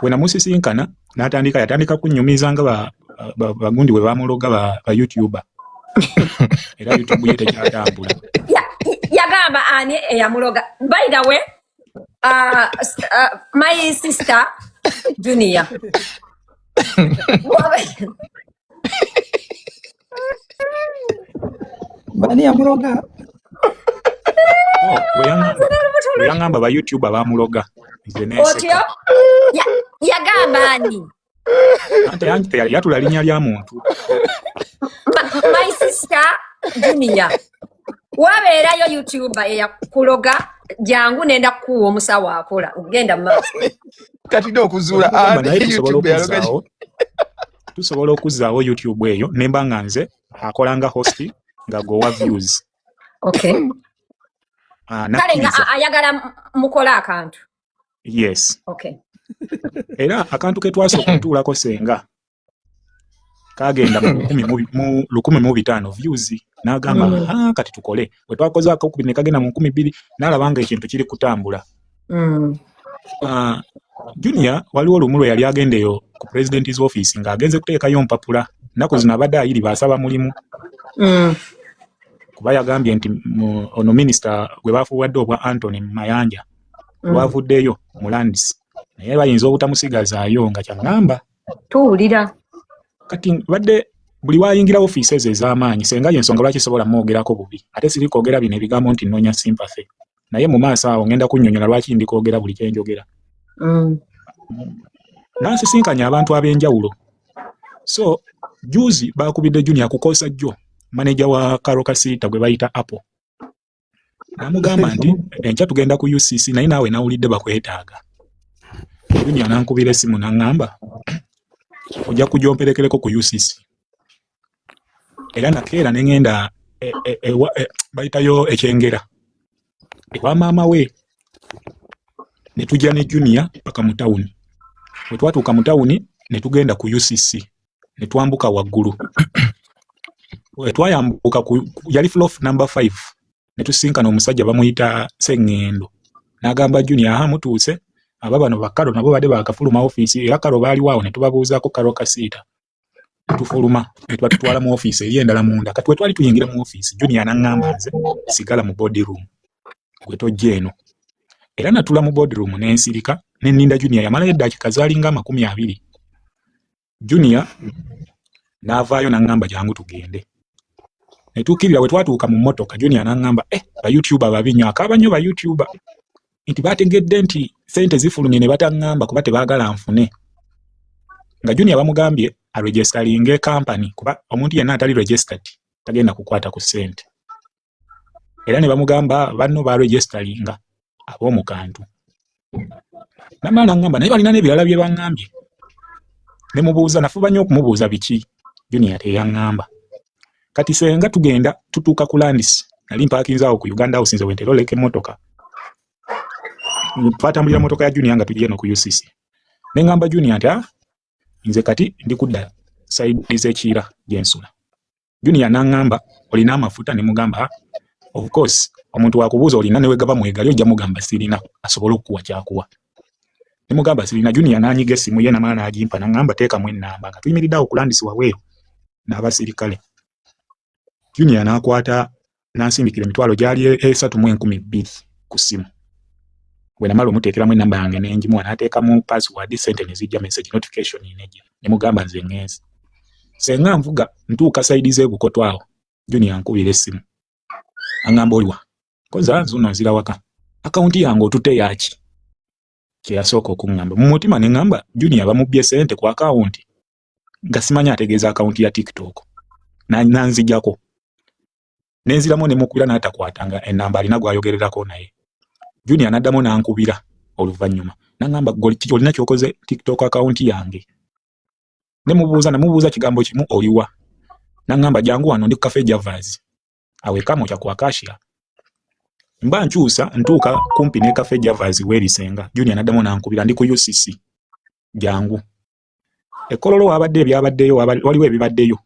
we namusisinkana n'atandika yatandika kunnyumiza nga bagundi we bamuloga ba youtuba era youtube ye tekyatambula yagamba ani eyamuloga by the way uh, uh, my sister junior bani yamuloga weyangamba ba youtube abamuloga otyo yagamba ani ante yange yatula linya lya muntu my sister junior wabeerayo youtuber eyakuloga jangu nenda kukuwa omusawo akola okugenda mu maaso kati nokuzuula tusobola okuzzaawo youtube eyo nemba nga nze akola nga host nga gowa views okay ah, kale nga ayagala mukola akantu yes okay era akantu ke twasooka okutuulako senga kagenda mu lukumi mu bitaano views n'agamba mm. ah, kati tukole we twakoze akakubiri ne kagenda mu nkumi bbiri n'alaba nga ekintu kiri kutambula mm. uh, junior waliwo lumu lwe yali agenda eyo ku president's office ng'agenze kuteekayo mpapula nnaku zino abadde ayiri baasaba mulimu mm. kuba yagambye nti ono minisita gwe baafuwadde obwa antony mayanja mm. lwavuddeyo mu lands naye bayinza obutamusigazaayo nga kyaŋŋamba tuwulira kati badde buli wayingira ofiisi ezo ez'amaanyi senga yensonga lwaki sobola mwogerako bubi ate siri kwogera bino ebigambo nti nnoonya sympathy naye mu maaso awo ngenda kunyonyola lwaki ndi kwogera buli kyenjogera mm. nansisinkanya abantu ab'enjawulo so juzi bakubidde junior kukoosa jjo maneja wa karo kasiita gwe bayita apple namugamba nti enkya tugenda ku ucc naye naawe nawulidde bakwetaaga junior nankubira esimu naŋŋamba ojja kujomperekereko ku ucc era nakeera ne ŋŋenda e, e, e, bayitayo ekyengera ewa maama we ne tujja ne junia paka mu tawuni bwe twatuuka mu tawuni ne tugenda ku ucc ne twambuka waggulu bwe twayambuka yali flof number five ne tusinkana omusajja bamuyita seŋŋendo n'agamba junia aha mutuuse aba bano bakalo nabo badde bakafuluma ofiisi era kalo baaliwo awo ne tubabuuzaako kalo kasiita tufuluma netuba tutwala mu ofiisi eri endala munda kati wetwali tuyingira mu ofiisi junia naŋŋamba nze sigala mu body room gwe tojja eno era natula mu body room nensirika neninda junia yamalayo eddaakika zaalinga amakumi abiri junia n'avaayo naŋŋamba jangu tugende netuukirira bwe twatuuka mu mmotoka junia naŋŋamba e eh, bayoutuba babi nyo akaaba nnyo bayoutuba nti baategedde nti sente zifulumye ne bataŋŋamba kuba tebaagala nfune nga junior bamugambye aregestalinge kampani kuba omuntu yenna atali registered tagenda kukwata ku sente era ne bamugamba banno baregestalinga ab'omu kantu namala naŋŋamba naye balina n'ebirala bye baŋŋambye ne mubuuza nafuba nnyo okumubuuza biki junior teyaŋŋamba kati senga tugenda tutuuka ku landis nali mpakinze awo ku uganda house nze wentera oleka emmotoka twatambulira motoka ya junior nga tujja eno ku ucc ne ŋŋamba junior nti ah, nze kati ndi kudda sayidi z'ekiira gyensula junior n'aŋŋamba olina amafuta ne mugamba ah, of course omuntu wakubuuza olina newegaba mwegali ojja mugamba sirina asobole okukuwa kyakuwa ne mugamba sirina junior n'anyiga essimu ye namala n'agimpa nangamba teekamu ennamba nga tuyimiridde awo kulandisi waweeru n'abasirikale junior n'akwata n'ansindikira emitwalo gyali esatu mu enkumi bbiri ku ssimu bwe namala omuteekeramu ennamba yange n'engimuwa n'ateekamu password sente ne zijja message notification nejja ne mugamba nze ng'ensi senga nvuga ntuuka sayidi z'ebukoto awo junior nkubira essimu angamba oliwa koza zuno nzira waka akawunti yange otute yaki kye yasooka okuŋŋamba mu mutima ne ŋŋamba junior bamubbye ssente ku akawunti nga simanyi ategeeza akawunti ya tiktok nanzijako ne nziramu ne mukubira n'atakwata nga enamba alina gw'ayogererako naye junior n'addamu n'ankubira oluvannyuma n'aŋŋamba olina ky'okoze tiktok akawunti yange ne mubuuza namubuuza kigambo kimu oliwa n'aŋŋamba jangu wano ndi ku kafe javaazi awo ekamwokya ku akashiya mba nkyusa ntuuka kumpi ne kafe javas w'ebisenga junior naddamu nankubira ndi ku ucc jangu ekololo wabadde ebyabaddeyo waliwo ebibaddeyo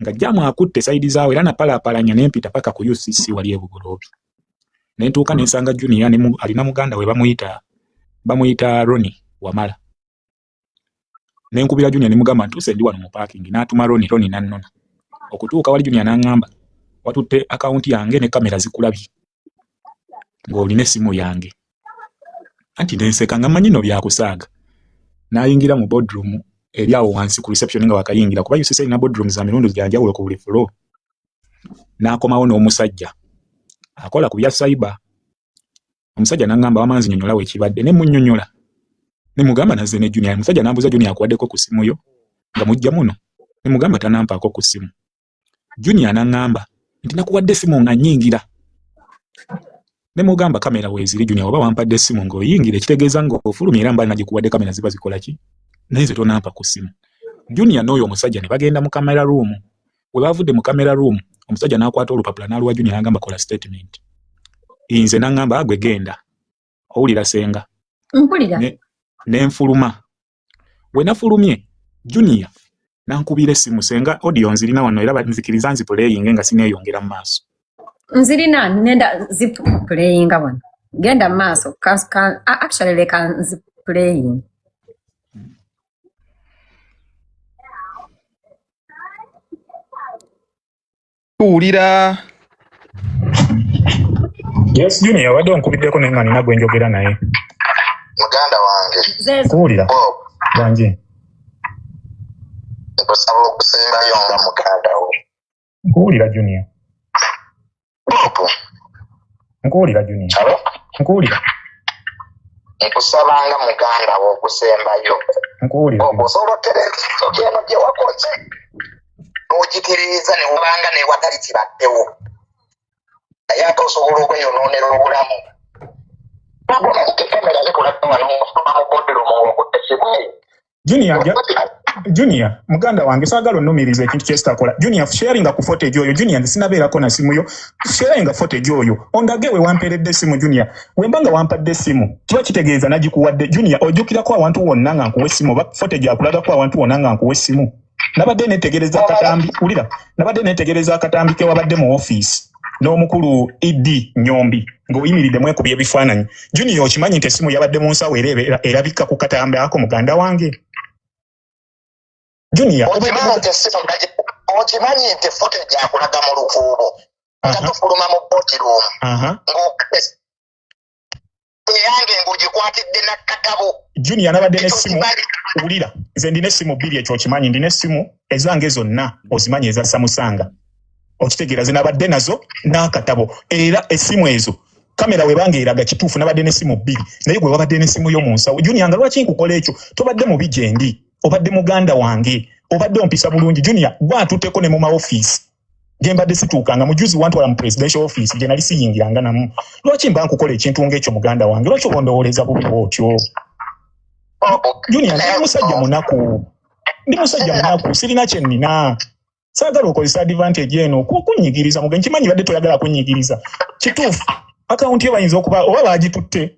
nga jamu akutte saidi zaawe era napalaapalanya nempita paka ku ucc wali ebugoloobi nentuuka nensanga junior alina muganda we bamuyita bamuyita roni wamala ne nkubira Junior ne mugamba ntuuse ndi wano mu parking n'atuma Ronnie Ronnie n'annona okutuuka wali Junior n'angamba watutte akawunti yange ne kamera zikulabye ng'olina essimu yange anti ne nseka nga mmanyi no byakusaaga n'ayingira mu boardroom eri awo wansi ku reception nga wakayingira kuba UCC erina boardroom za mirundi gya njawulo ku buli floor n'akomawo n'omusajja akola ku bya cyber omusajja nangamba wama nzinyonyola wekibadde ne munyonyola ne mugamba naze ne junior omusajja nambuza junior akuwadeko ku simu yo nga mujja muno ne mugamba tanampaako ku simu junior nangamba nti nakuwadde simu nga nyingira ne mugamba kamera weziri junior oba wampadde simu nga oyingira ekitegeeza nga ofulumye era mbali nagikuwadde kamera ziba zikola ki naye nze tonampa ku simu junior n'oyo omusajja ne bagenda mu kamera room we bavudde mu camera room omusajja n'akwata olupapula n'aluwa junior n'agamba kola statement nze n'aŋŋamba agwe genda owulira senga mpulira ne nfuluma we nafulumye junior nankubira essimu senga audio nzirina wano era nzikiriza nzipuleyinge nga sineeyongera mu maaso nzirina nenda zipuleyinga wano genda mu maaso actually leka nzipuleyinga tuwulira yes junior wadde onkubiddeko naye nga nina gwe njogera naye muganda wange kuwulira bangi nkusaba okusembayo nga muganda wo nkuwulira junior nkuwulira junior nkuwulira nkusaba nga muganda wo okusembayo nkuwulira okusobola otereeeno gye wakoze n'ogiterereza ne wubanga ne watali kibaddewo naye ate osobola okweyonoonera obulamu junior ja junior muganda wange sagala onumiriza ekintu kyesitakola junior sharinga ku footage oyo junior nze sinabeerako na simu yo sharinga footage oyo ondage we wampeeredde esimu junior wemba nga wampadde esimu kiba kitegeeza nagikuwadde junior ojjukirako awantu wonna nga nkuwa essimu oba footage akulagako awantu wonna nga nkuwa essimu nabadde netegereza akatambi wulira nabadde netegereza akatambi kewabadde mu ofiisi n'omukulu ed nyombi ng'oyimiridde mwekubya ebifaananyi junior okimanyi nti essimu yabadde mu nsawo era erabikka ku katambi ako muganda wange junior okimanyi nti efuta egyakulaga mu lukuubo nga tufuluma mu botiruumu eyange ng'ogikwatidde nakkatabo junior nabadde nesimu wulira nze ndina essimu bbiri ekyo okimanyi ndina essimu ezange zonna ozimanyi eza samusanga okitegeera ze nabadde nazo n'akatabo era essimu ezo kamera webanga eraga kituufu nabadde nesimu bbiri naye gwe wabadde nesimu yo mu nsawo junior nga lwaki nkukola ekyo tobadde mubi gyendi obadde muganda wange obadde ompisa bulungi junior gwatuteko ne mu maofiisi gyembadde situuka nga mujuzi wantwala mu presidential office gye nali siyingiranga namu lwaki mba nkukola ekintu ngaekyo muganda wange lwaki obondowoleza bubi bwotyo junior ndi musajja munaku ndi musajja munaku sirina kyenina saagala okozesa advantage eno kunyigiriza muge nkimanyi badde toyagala kunyigiriza kituufu akawunti yo bayinza okuba oba bagitutte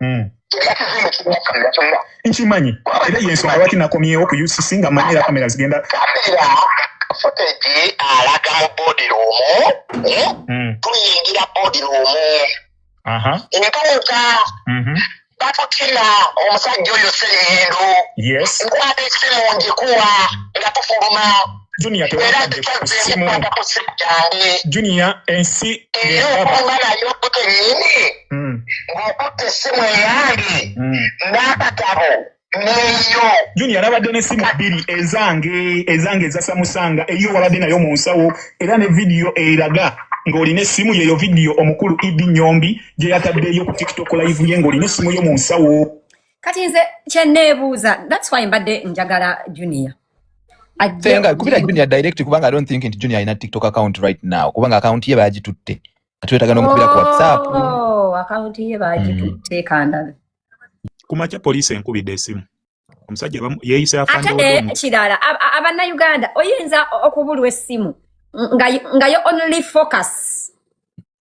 hmm. nkimanyi era yensonga lwaki nakomyewo ku ucc nga manyi era kamera zigenda footage alaga mu body room eh? hmm. tuyingira body room entuuka mm-hmm. batutira omusajja oyo seyendu nkwata esimu njikuwa nga tufuluma junior tewakadde ku simu junior ensi era okumba nayo okuta enyini hmm. ng'okuta essimu eyange hmm. n'akatabo neyo junior nabadde n'essimu bbiri ezange ezange ezasamusanga eyo wabadde nayo mu nsawo era ne vidiyo eraga ng'olina essimu yeyo vidiyo omukulu idi nyombi gye yataddeyo ku tiktok live ye ng'olina essimu yo mu nsawo kati nze kyenneebuuza that's why mbadde njagala junior Senga kubira junior direct kubanga I don't think nti junior ina TikTok account right now kubanga account ye bagitutte kati wetaga no kubira ku WhatsApp oh account ye bagitutte mm. kanda kumacha police enkubide esimu omusajja yeyise afande ate eh, kirala abanna Uganda oyinza okubulwa esimu nga nga yo only focus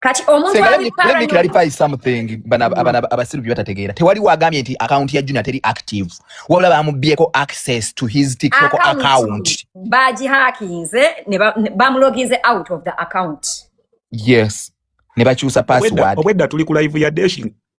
kati omuntu clarify something bana mm. abana abasiru byatategeera tewali wagambye nti account ya Junior teri active wabula bamubyeko access to his TikTok account, account. baji hackinze ne bamuloginze ba out of the account yes ne bakyusa password obwedda tuli ku live ya dashing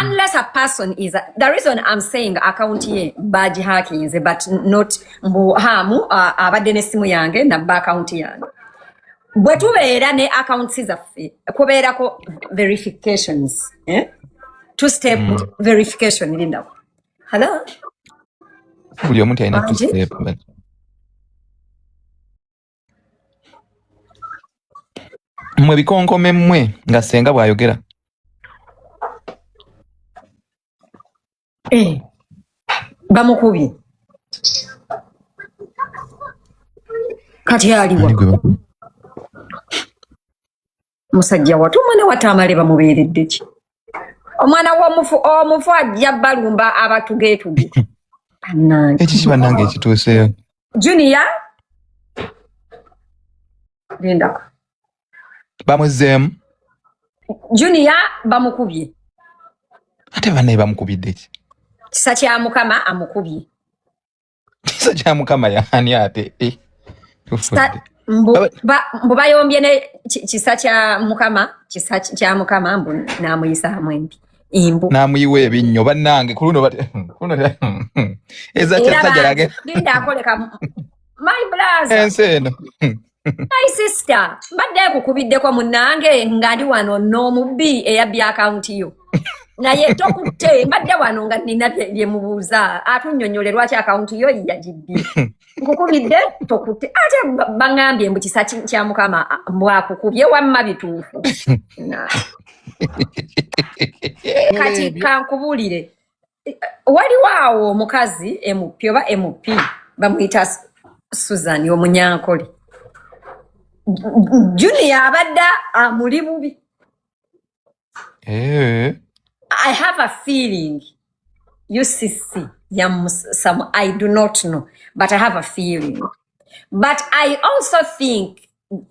unless a person is a, the reason i'm saying account ye baji hackinze but not mbu hamu abadde nesimu yange nabba account yange bwe tubeera ne accounts zaffe kubeerako verifications eh? two step mm. verification linda hello buli omuntu alina two step but mwe bikonkome mmwe nga senga bw'ayogera eh, bamukubye kati aliwa musajja watu omwana wataamale bamubeeredde ki omwana womufu omufu ajja balumba abatugeetuge ekiki banange ekituuseyo junia lindako bamuzeemu junia bamukubye ate banaye bamukubidde ki kisa kya mukama amukubye kisa kya mukama yani ate eh, mbu bayombye ne kisa kya mukama kisa kya mukama mbu namuyisa hamwembi imbu namuyiwa ebinnyo bannange kuluno eza kyasajalage linda akoleka my blaza ensi eno my sister mbadde nkukubiddeko munange nga ndi wano n'omubbi eyabbye akawunti yo naye tokutte mbadde wano nga nina byemubuuza atunyonyole lwaki akawunti yo yagibbye nkukubidde tokutte ate baŋambye mbu kisa kya mukama mbwakukubye wamma bituufu kati kankubuulire waliwo awo omukazi mp oba mp bamuyita susan omunyankole junior abadde amuli bubi eh. i have a feeling ucc yamusamu i do not know but i have a feeling but i also think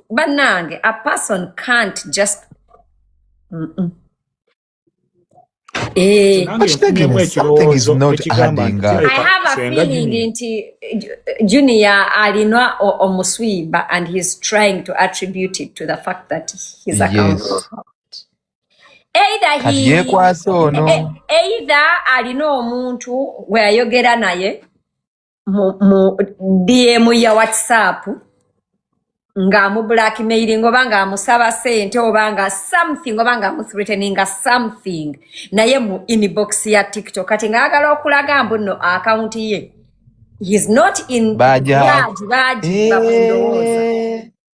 banange a person can't just mm -mm. Eh, nti junior alinwa omuswiba and he's trying to attribute it to the fact that he's yes. either alina omuntu gweyayogera naye mu, mu dm ya whatsapp ng'amu blackmailing oba ng'amusaba sente oba nga something oba ng'amuthreateninga something naye mu inbox ya tiktok kati ng'agala okulaga mbu nno akawunti ye he's not in Baja. baji baji bakulowooza Eh,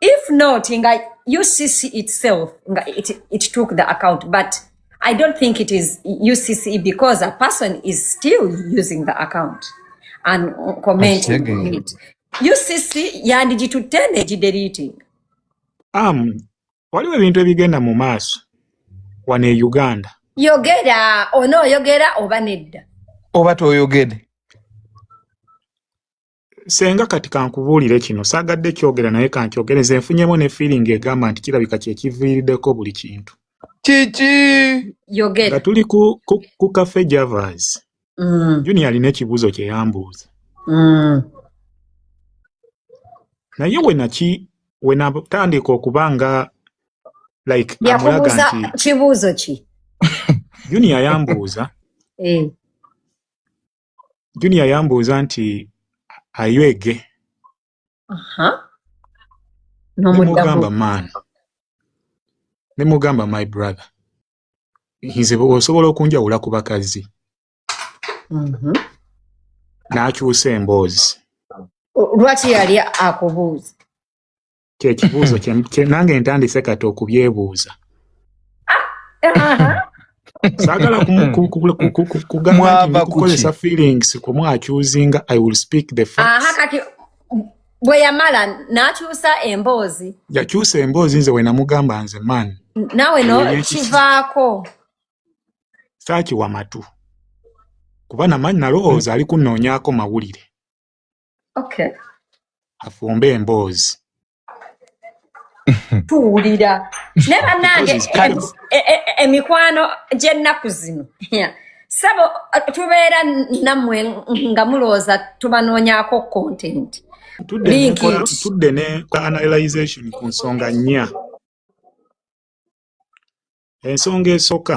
if not nga ucc itself nga it, it took the account but i don't think it is ucc because a person is still using the account and commenting it ucc yandigitutte negideleting um, waliwo ebintu ebigenda mu maaso wano e uganda yogera onooyogera oba nedda oba toyogede senga kati kankubuulire kino saagadde kyogera naye kankyogere nze nfunyemu ne feeling egamba nti kirabika kyekiviiriddeko buli kintu kiki yogera nga tuli ku, ku, ku cafe javas mm. junior alina ekibuuzo kyeyambuuza mm. naye wenaki wenatandika okuba nga like amulaga nti kibuuzo ki junior yambuuza eh. junior yambuuza nti ayo ege nemugamba man nemugamba my brother nze osobola okunjawula ku bakazi mhm. n'akyusa emboozi lwaki yali akubuuza kyekibuuzo nange ntandise kati okubyebuuza saagala kugambakukozesa feelings kumwakyuzinga i will speak the facts bwe yamala n'akyusa emboozi yakyusa emboozi nze we namugamba nze man naawe no kivaako saakiwa matu kuba namanyi nalowooza ali kunoonyaako mawulire okay. afumbe emboozi tuwulira naye bannange emikwano gy'ennaku zino sabo tubeera nammwe nga mulowooza tubanoonyako content tudde ne analyzation ku nsonga nnya ensonga esooka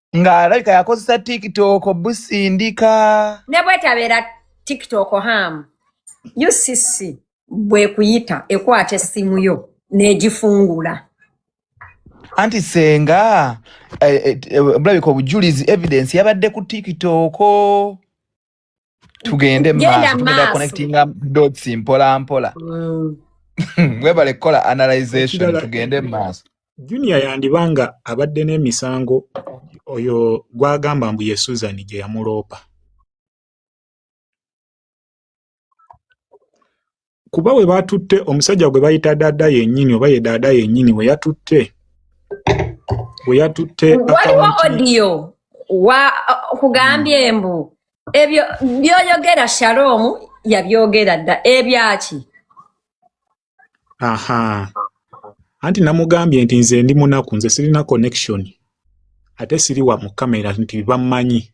ng'alabika yakozesa tiktok busindika ne bwetabeera tiktok ham ucc bwekuyita ekwata essimu yo n'egifungula anti senga eh, eh, eh, bulabika obujulizi evidence yabadde ku tiktok tugende maaso connectinga dots mpola mpola mm. webale kukola analyzation tugende maaso junior yandibanga abadde n'emisango oyo gwagamba mbu ye susan gye yamuloopa kuba we batutte omusajja gwe bayita daada yennyini oba ye daada yennyini we yatutte we yatutte waliwo odiyo wa kugambye hmm. mbu ebyo byoyogera shaloomu yabyogera dda ebyaki aha anti namugambye nti nze ndi munaku nze sirina connection ate siri wa mu kamera nti bammanyi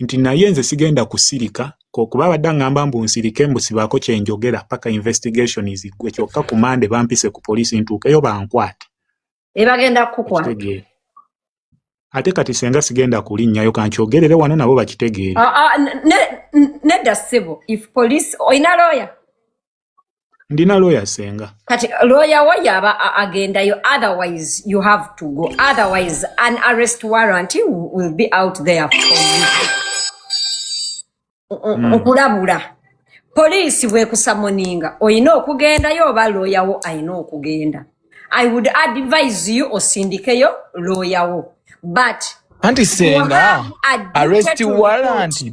nti naye nze sigenda kusirika kokuba abadde angamba mbu nsirike mbu sibaako kyenjogera paka investigation zigwe kyokka ku mande bampise ku poliisi ntuukeyo bankwate ebagenda kukukwata ate kati senga sigenda kulinnyayo kankyogerere wano nabo bakitegeere ah, ah, nedda ssebo if police olina looya ndina lawyer senga kati lawyer wo yaba agendayo otherwise you have to go otherwise an arrest warrant will be out there for you hmm. okulabula poliisi bwekusamoninga olina okugendayo oba lawyer wo alina okugenda i would advise you osindikeyo lawyer wo but anti senga arrest warrant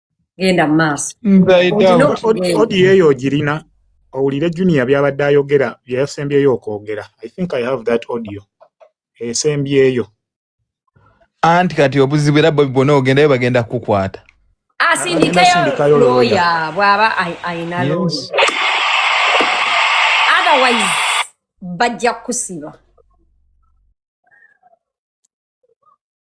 genda mu maaso odiyo eyo ogirina owulire junior byabadde ayogera byeyasembyeyo okwogera i think i have that audio esembyeyo anti kati obuzibu era bobi bwona ogendayo bagenda kukukwata asindikeyo looya bwaba ayina looya otherwise bajja kukusiba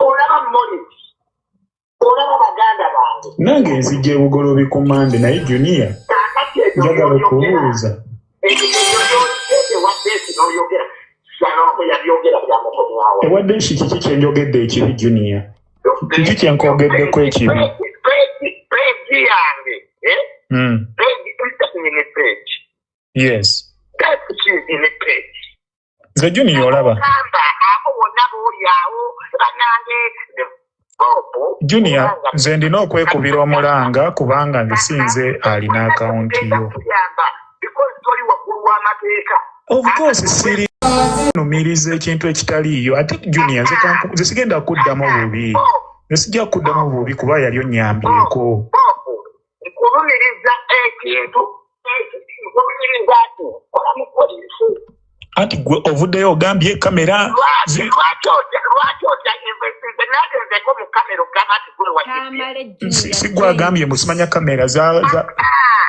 olaba moni olaba baganda bange nange nzija ebugolobi ku mande naye junia njagala okubuuza ewadde nsi kiki kyenjogedde ekibi junia kiki kyenkogeddeko ekibi peji yange eh? hmm. peji yes that's in the page nze juniya olaba juniya nze ndina okwekubira omulanga kubanga nze sinze alina akawunti yo ofcourse siri numiriza ekintu ekitaliiyo ate juniya nze sigenda kuddamu bubi nze sijja kuddamu bubi kuba yali onyambyeko kulumiriza ekintu kulumiriza ati kola mu polisi anti gwe ovuddeyo ogambye kamera sigwe agambye musimanya kamera za ah, ah,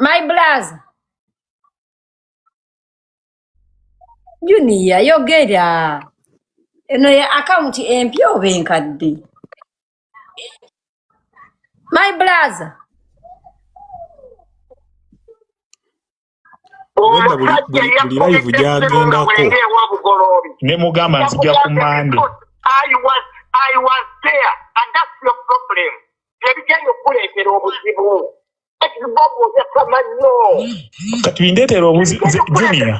My blaz. Junior yogera. Eno ya account empya oba enkadde? My blaz. omusajja yakubiddessemugawengeewabugoloobinemugamba nzija ku mande ebigenda okukuleetera obuzibu kati bindeetera obujumia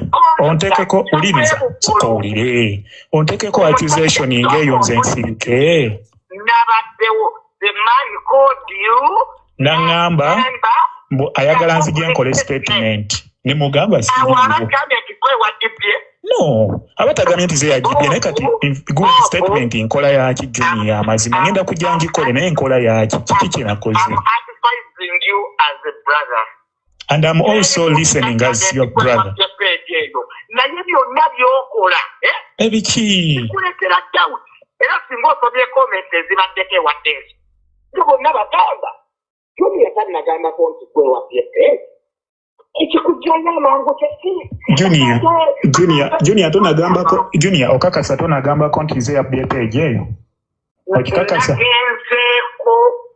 ontekeko uliriza soka owulire ontekeko accusation ng'eyo nze nsirike nabaddewo the man called you nangamba mbu ayagala nzije nkole statement nemugamba no abatagamye nti zeyajibye naye kati good statement nkola yaki juni ya mazima ngenda kujja ngikole naye nkola yaki kiki kyenakoze and am also listening as your brother naye byonna byokola eh? ebikikulekera doubt era singa osomye comments ezibaddeko ewadde ezo to bonna bagamba julia tanagambako nti gwewabye ekikujjayo amangu kyesijunia tonagambako junia okakasa tonagambako nti nze yabye peegi eyo okikakasa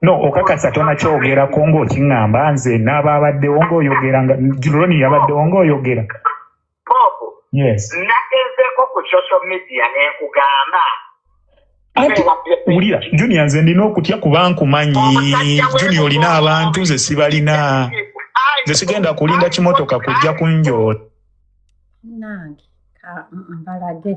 no okakasa tonakyogerako ngaokiŋamba nze naaba abaddewo ngaoyogera nga juloni yabaddewo ngaoyogera yes nagezeeko ku social media nenkugamba anti wulira junior nze ndina okutya kuba nkumanyi junior olina abantu nze sibalina nze sigenda kulinda kimotoka kujja kunjoola nange mbalage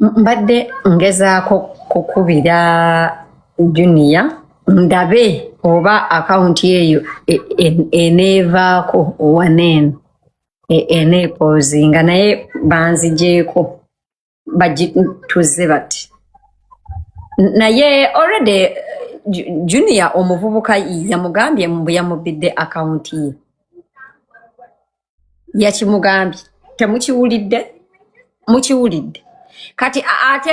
mbadde ngezaako kukubira juniya ndabe oba akawunti eyo e, e, eneevaako waneeno e, eneepoozi nga naye banzijeeko bagituzze bati naye already junior omuvubuka yamugambye mbu yamubbidde akawunti ye yakimugambye temukiwulidde mukiwulidde kati ate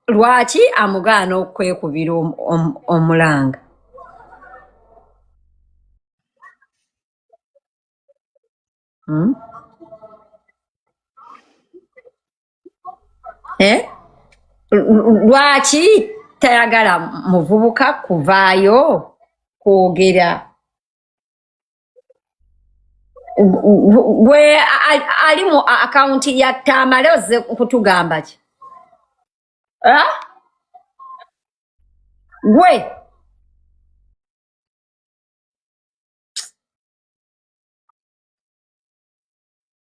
lwaki amugaana okwekubira omulanga Eh? lwaki tayagala muvubuka kuvaayo kwogera gwe ali mu akawunti ya tamale ozze kutugamba ki eh? gwe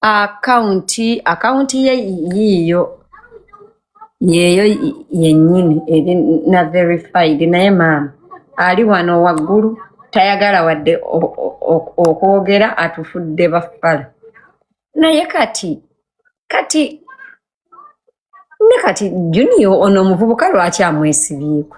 akawunti akawunti ye yiiyo yeeyo yennyini eri na verified naye maama ali wano waggulu tayagala wadde okwogera atufudde baffala naye kati kati ne kati junior ono omuvubuka lwaki amwesibyeko